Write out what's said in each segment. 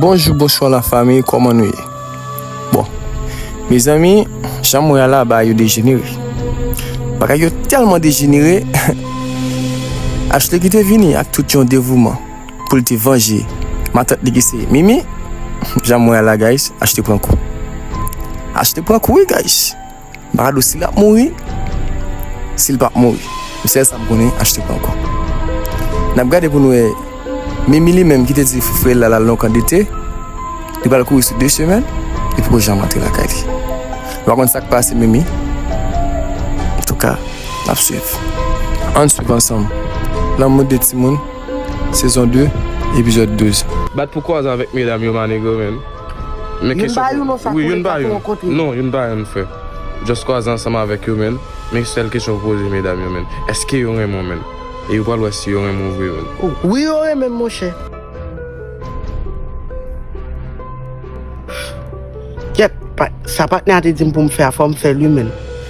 Bonjou bonswa la fami kòman nou ye bon mezanmi jan mwen ala ba yo dejenere bagay yo tèlman dejenere Ashley ki te vini ak tout yon devouman pou l te vanje matant li ki se Mimi jan mwen ala guys Ashley pran kou Ashley pran kou wi guys Maradou si lap mouri sil pap mouri m sèl sam konnen achte pran kò nap gade pou nou wè Mimi li menm kite di frè la lal nan yon kan dete li pral kouri sou 2 semèn li poko janm antre lakay li nou pa konn sak pase Mimi antouka nap swiv ann swiv ansanm lanmou 2 timoun sezon 2 epizòd 12. Bat pou kwaz avèk medam yo ma negro men. Men kesyon pou mwen. Wi, youn pa youn. Non, youn pa youn frè. Just kwaze ansanm avèk yo menn. Men sèl kesyon pou poze medam yo menn. Eske yo renmen w menn? E yo pral wè si yo renmen w vre menn. Wi yo renmen m monchè. Kèt, sa patnè a te di m pou m fè a fò m fè l wi menn.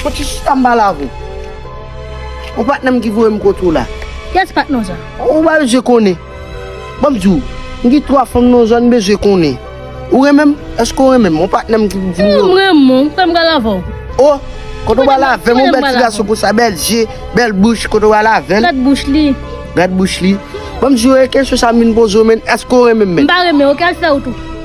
Soti chita anba lavi. Ou patnè m ki voye m kot ou la. Yes patnè w jan. Ou pa bezwen konnen. Ban m di w. M gen 3 fanm nan w jan n bezwen konnen. Ou renmen m? Eske w renmen m? Ou patnè m ki di m yo. M renmen w. M kwè m pral avè w. Oh! Kote w pral avè m? Ou bèl ti gason konsa, bèl je, bèl bouch. Kote w pral avè m? Gad bouch li. Gad bouch li. Ban m di w e kesyon sa m vin poze w menn. Eske w renmen m menn? M pa renmen w. Ok al fè wout ou.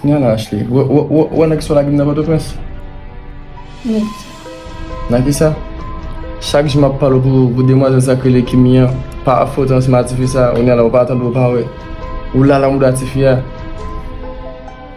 Kounya la Ashley, ou wè nèg sa w lagim nan Pòtoprens? Wi. Nan kisa? Chak jou m ap pale w pou demwazèl sa k rele Kimi an, pa fot an se matifi sa, kounya la ou pa tande ou pa wè. Ou lala mouda tifi a.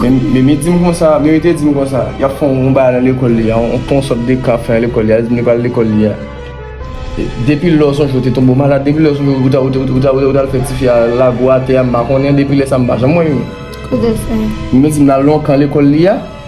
Men Mimi di m konsa, Mimi te di m konsa, y ap fè yon bagay nan lekòl li a, yon fè yon sòt de kan ap fè nan lekòl li a, li di m li pral lekòl li a. Depi lè ou sonje ou te tonbe ou malad, depi lè ou sonje ou ta ou ta al fè tifi a lago atè a m pa konnen, depi lè sa m pa janm wè Mimi. Mimi di m l al nan yon kan lekòl li a.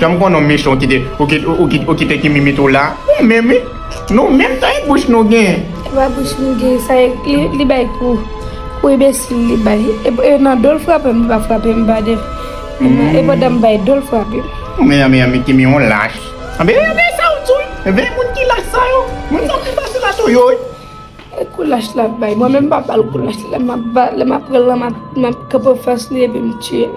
Janm konn non mechon kite ou kite ki mimit ou la ou menm wi nou menm sa e bouch nou gen. Epa bouch nou gen sa li bay kou kou enbesil li bay e nan dol frapem li pa frapem badè e pandan m bay dol frapem. Mezanmi kimi yon lach anbyen anbyen sa ou di anbyen moun ki lach sa yo moun sa yo ki fasil ato yo wi. E kou lach lap bay mwen menm m pa bal kou lach lèm ap pranl lan map kanpe anfas li epi m tiyel.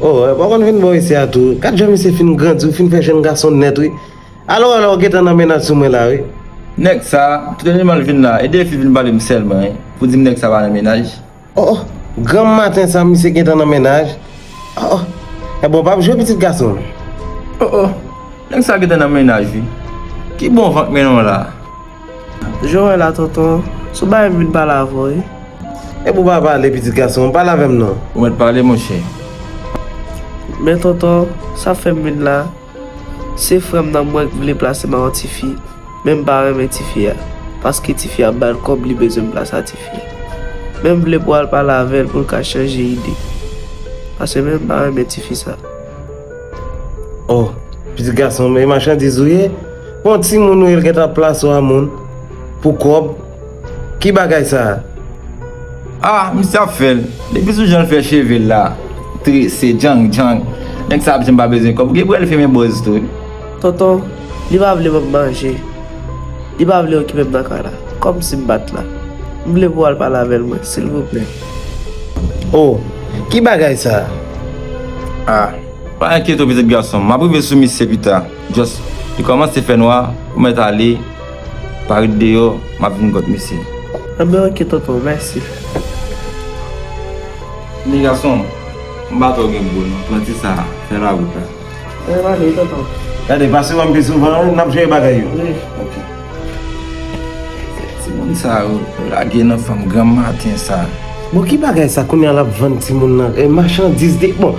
Oh, eh, pa konn vin bon ici à tout. Quand je me suis fin grandi, fin fait jeune garçon net, oui. Alors, alors, get en amenant sous moi là, oui. Nèg sa, tout animal vin la, e defi vin pale m sèlman, pou di m nèg sa pa nan menaj. Oh granm maten sa misye gentan nan mennaj oh ebon pap jwe pitit gason. Oh oh nèg sa gentan nan mennaj wi ki bon vant mennen w la. Jan w wè la tonton sou bagay m vin pale avè w wi. Ebon pa pale pitit gason pale avè m non. Ou mèt pale monchè. Men tonton sa fè m vin la. Se frèm nan mwen k vle plase ma yon tifi menm pa renmen tifi a paske tifi a ap bal kòb li bezwen plas a tifi menm vle pou al pale avèl poul ka chanje ide paske menm pa renmen tifi sa. Oh pitit gason m e machandiz ou ye pou yon timoun ou ye l gentan ap plase w a moun pou kòb. Ki bagay sa a? Ah misye ap fèl. Depi sou janl fè chevel la trese djang djang nèg sa ap diw pa bezwen kob gen pou el fimen bòz tou wi. Tonton, li pa vle banm manje. Li pa vle okipem nan kay la. Kòmsi m bat la. M vle pou al pale avèl mwen silvouplè. Oh ki bagay sa a? Ah pa enkyete w pitit gasonm. Map rive sou misye pita. Just li kòmanse fè nwa ou mèt ale. Pa ret deyò map vin kot misye. Enben ok tonton mèsi. Nen gason m pa tro gen bro non pran ti sa fè la wout la. Mwen pa vle tonton. Gade pase wèm pi souvan wi nap jere bagay yo. Wi. Ok. Ti moun sa yo lage nan fanm granm maten sa. Bon ki bagay sa kounya lap vann ti moun nan machandiz li bon.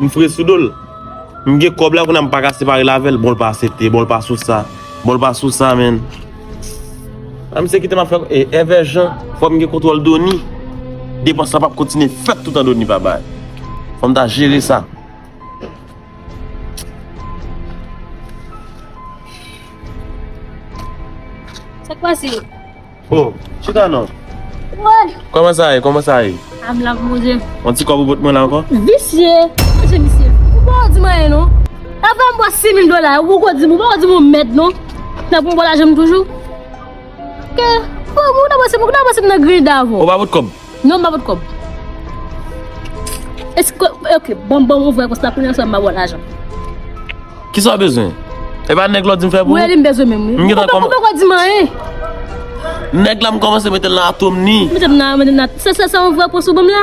M fre sou dol. M gen kob la kounam paka separe l avel bon l pa asepte bon l pa sou sa bon l pa sou sa menn a misye kitem ap fè e evè jan fòm gen kontwòl doni depans sa pap kontinye fèt toutan doni pa bay fòm ta jere sa. Oh, chita non. Wè. Koman sa ye? Koman sa ye? Am la pou manje. On ti kòb ou pot mwen la ankò? Visye. Manje misye. Ou pa ou di mwen ayen non. Avè m bò 6000 dola yo, ou poko di m, ou poko di m yon mèd non. Nan pou m bò lajan m toujou. Ke, pou m ou nan panse m nan grenn davon. Ou pa pot kòb? Non mwen pa pot kob. Eske ok bon bon ouvre konsa kounye an sèm ba wòl ajan. Kisa w bezwen? E pa nèg la w di m fè pou ou? Wi li m bezwen menm wi. M gentan kòmanse. Ou poko di m anyen. Nèg la m kòmanse mete l nan atom ni. Mete m nan atom ni. Se sa w ouvre konsa w ban m la?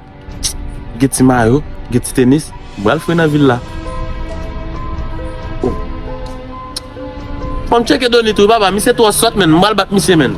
Gen ti mayo, gen ti tenis, m pral fre nan vil la. Fòm tcheke Donny tou wi papa, misye twò sòt menn, m pral bat misye menn.